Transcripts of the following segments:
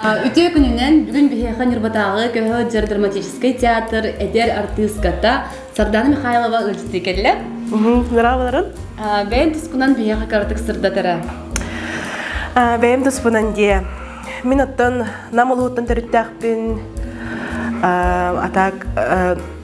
Үтүө күнүнэн бүгүн биһиэхэ Ньурбатааҕы көһө сылдьар драматическай театр эдэр артыыската Сардана Михайлова ыалдьытыы кэллэ. Здраволарын. Бэйэм туспунан биһиэхэ кыратык сырдатара. Бэйэм туспунан дии. Мин оттон Нам улууттан төрүттээхпин атак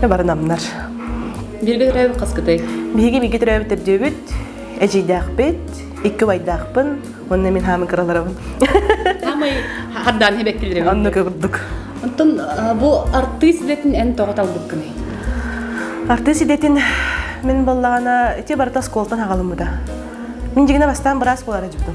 Да бары намнар. Бииргэ төрөөбүт хаскытай? Биһиги бииргэ төрөөбүт төрдүөбүт, эдьиийдэахпит, икки убайдаахпын, онно мин хаамын кыраларабын. Самай хардаан хебеккилерин. Онно курдук. Онтон бу артыыс идэтин эн тоҕо талбыккыный? Артыыс идэтин мин баллаҕана ити барыта оскуолтан хагалыммыта. Мин дьигине бастаан быраас буолара дьутум.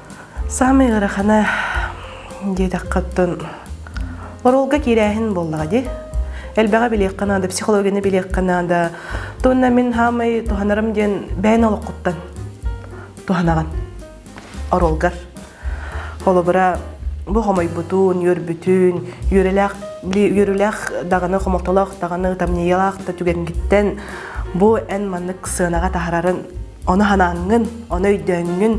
Саамай ыарахана диэтэххэ оттон оруолга киирээһин буоллаҕа дии. Элбэҕи билиэххэ наада, психологияны билиэххэ наада. Туонна мин хаамай туһанарым диэн бэйэн олоххуттан туһанаҕын оруолгар. Холобура, бу хомойбутун, үөрбүтүн, үөрэлээх үөрүүлээх даҕаны, хомолтолоох даҕаны, тамньыйалаах да түгэҥҥиттэн бу эн маннык сыанаҕа таһаарарын Оны ханааҥҥын, оны өйдөөҥҥүн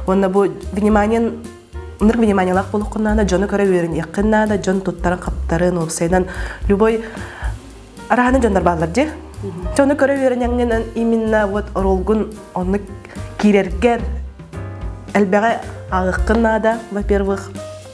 уонна бу вниманиен ынырык вниманиялаах буолуккуннаана дьону көрө үөрэниэххин наада, дьон туттарын-хаптарын, уопсайынан любой арааны дьоннор бааллар дии. Дьону көрө үөрэниэҥҥинэн именно вот ролгун оннук киирэргэр элбэҕи ааҕыккын наада, во-первых.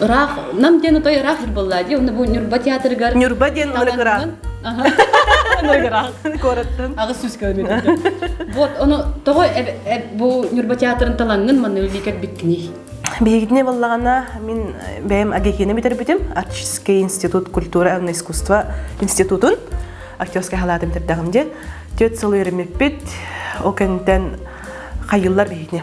Ыраах, нам диэн отой ыраах жыр буолла дии, онно бу Ньурба театрыгар Ньурба диэн ырык ыраах. ыраах. Куораттан. Аҕыс сүүс километр. Вот, ону тоҕо бу Ньурба театрын талаҥҥын манна өлүү кэлбиккиний? Биһигитине баллагана мин бэйэм агекини бүтэрбитим Арчский институт культура и искусство институтун актерскай халаатын битэрдагым диэн тет сылыырымиппит ол кэнтэн хайыллар биһигини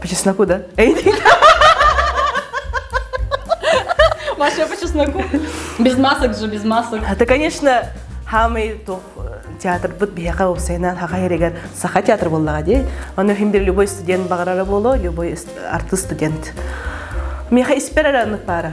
По чесноку, да? Маша по чесноку. Без масок же, без масок. Это, конечно, хамый тух театрбыт биһиэхэ уопсайынан хахайырыгар саха театр буллаҕа дии. Ону хиндир любой студент баҕарара буолуо, любой артыст студент. Миэхэ испэр эрэ аннык баара.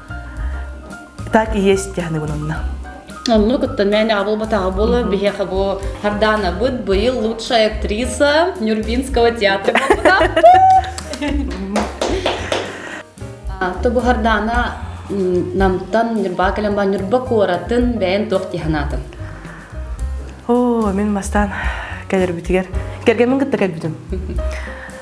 так и есть тяхныбынынна Онну кытта мээнэ абылбатаҕа буолар биһиэхэ бу Хардаанабыт быйыл лучшая актриса Нюрбинского театра Ту бу Хардаана намтан Ньурба кэлэн Ньурба куоратын бэйэн туох тиһанаатын Оо, мин мастан кэлэрбитигэр кэргэммин кытта кэлбитим.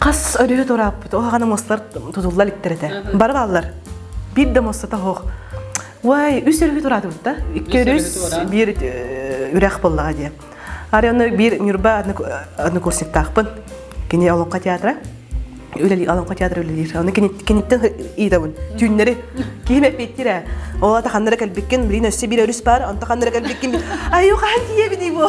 Хас өрүһү турааппыт, оһаҕаны мустар тутулла иликтэр этэ. Бары бааллар. Биир да муссата хоох. Уай, үс өрүһү тураатыбыт да? Икки өрүс, биир үрэх боллаҕа дии. Арыйаны биир Ньурба однокурсниктаахпын. Кини Олоҥхо театра үлэлиир Олоҥхо театра үлэлиир. Оны киниттэн ыйытабын. Түүннэри киһим эппиттирэ. Ол ата ханнара кэлбиккин, билин өссө биир өрүс баар, онто ханнара кэлбиккин. Айу хаан тиийэбиний бу?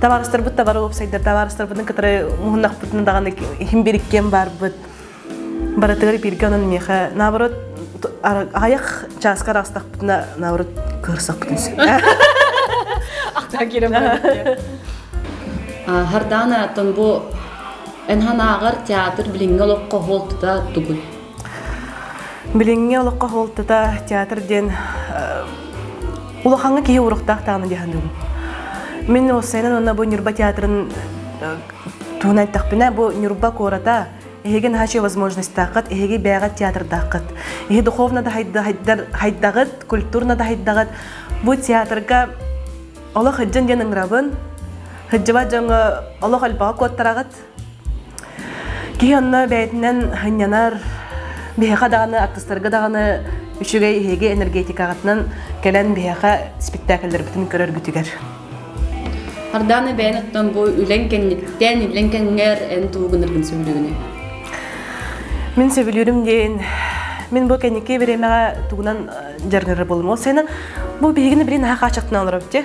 Табаарыстарбыт табары уопсайдар табаарыстарбытын кытары муһуннахпытын даҕаны иһин бириккиэн барбыт. Барытыгар бирге онон миэхэ наоборот аҕайах чааска арастахпытына наоборот көрсөккүтүн сөп. Ахтан кирем Хардаана тон бу Энхан ааҕар театр билиҥҥи олох хоһуолтута тугун? Билиҥҥи олоххо суолтата театр диэн улахаҥҥа киһи уруктаах даҕаны диэхин дуу. Мин уопсайынан уонна бу Ньурба театрын туһунан эттэхпинэ, бу Ньурба куората эһиги наһаа возможностааххыт, эһиги бэйэҕит театрдааххыт. Эһи духовно да хайдаҕыт, культурно да хайдаҕыт. Бу театрга олох ыджын диэн ыңрабын, ыджыба дьоҥҥо олох өлбөҕө куоттараҕыт, Киһи онно бэйэтинэн ханньанар биһиэхэ даҕаны артыстарга даҕаны үчүгэй эһиги энергетикаҕытынан кэлэн биһиэхэ спектакльлэрбитин көрөргүтүгэр. Ардааны бэйэн оттон бу үлэн кэнниттэн үлэн кэннигэр эн туу гынаргын сөбүлүгүнэ. Мин сөбүлүүрүм диэн мин бу кэнники бириэмэҕэ тугунан жаргырар болмол сенен бу биһигини билин аха качактан алар бите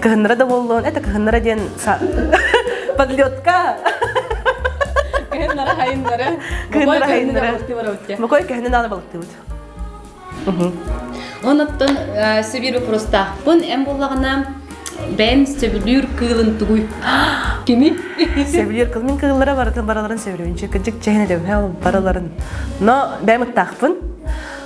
Кыһыннара да буоллун, это кыһыннара диэн подлетка. Кыһыннара хайыннара. Кыһыннара хайыннара. Мукой кыһынын аны балыктыбыт. Онуттан сибир вопроста. Бун эм буллагына бэйэм сөбүлүүр кыылын тугуй? Кими? Сөбүлүүр кыл мин кыыллара барыларын сөбүлүүнчү кыддык чэһинэ дөбһэ барыларын. Но бэйэм ыттаахпын.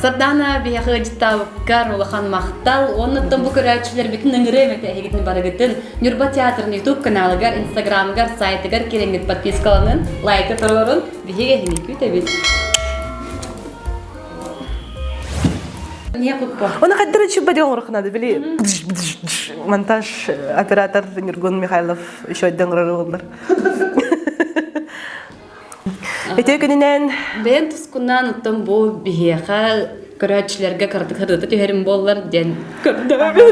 Сардаана биһиэхэ ыдьыттаабыккар улахан махтал. Оннуттан бу көрөөччүлэрбитин ыҥырыам этэ эһигитин барыгытын Ньурба театрын YouTube каналыгар, Инстаграмыгар, сайтыгар кириҥҥит подпискаланын, лайка туруорун. Биһиги эһиги күүтэбит. Оны қаддара чуппади оңырқынады били монтаж оператор Нюргун Михайлов еще ойдан ырырылар Өтө күнүнэн бэйэм тускуннаан оттон бу биһиэхэ көрөөччүлэргэ кыратык ырыта түһэрим буоллар диэн көрдөбүн.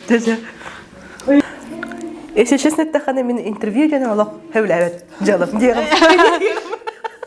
Тэсэ. Если честно, это хан именно интервью дьон олох хевләбет. Жалым дием.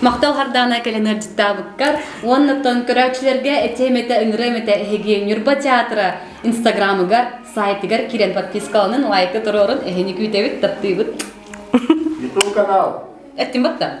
Мақтал хардаана кэлэн ырдьыттаабыккар уонна көрөөччүлэргэ этэ-эмэтэ ыҥыры-эмэтэ эһиги Ньурба театра инстаграмыгар сайтыгар киирэн подпискаланын лайкы туруорун эһини күүтэбит таптыыбыт YouTube канал. Эттим батта.